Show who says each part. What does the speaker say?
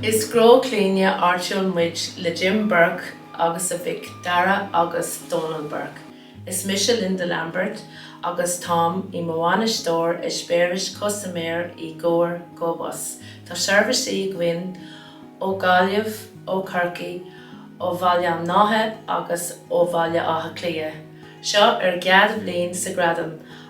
Speaker 1: Is gnó clainne áitiúil muid le Jim Burke agus a mhic Dara agus Dónal Burke. Is mise Linda Lambert agus táim i mo bhainisteoir eispéiris custaiméir i gcomhair Go Bus. Tá seirbhísí againn ó Gaillimh, ó Chorcaigh, ó Bhéal an Átha agus ó Bhaile Átha Cliath. Seo ár gcéad bhliain sa gradam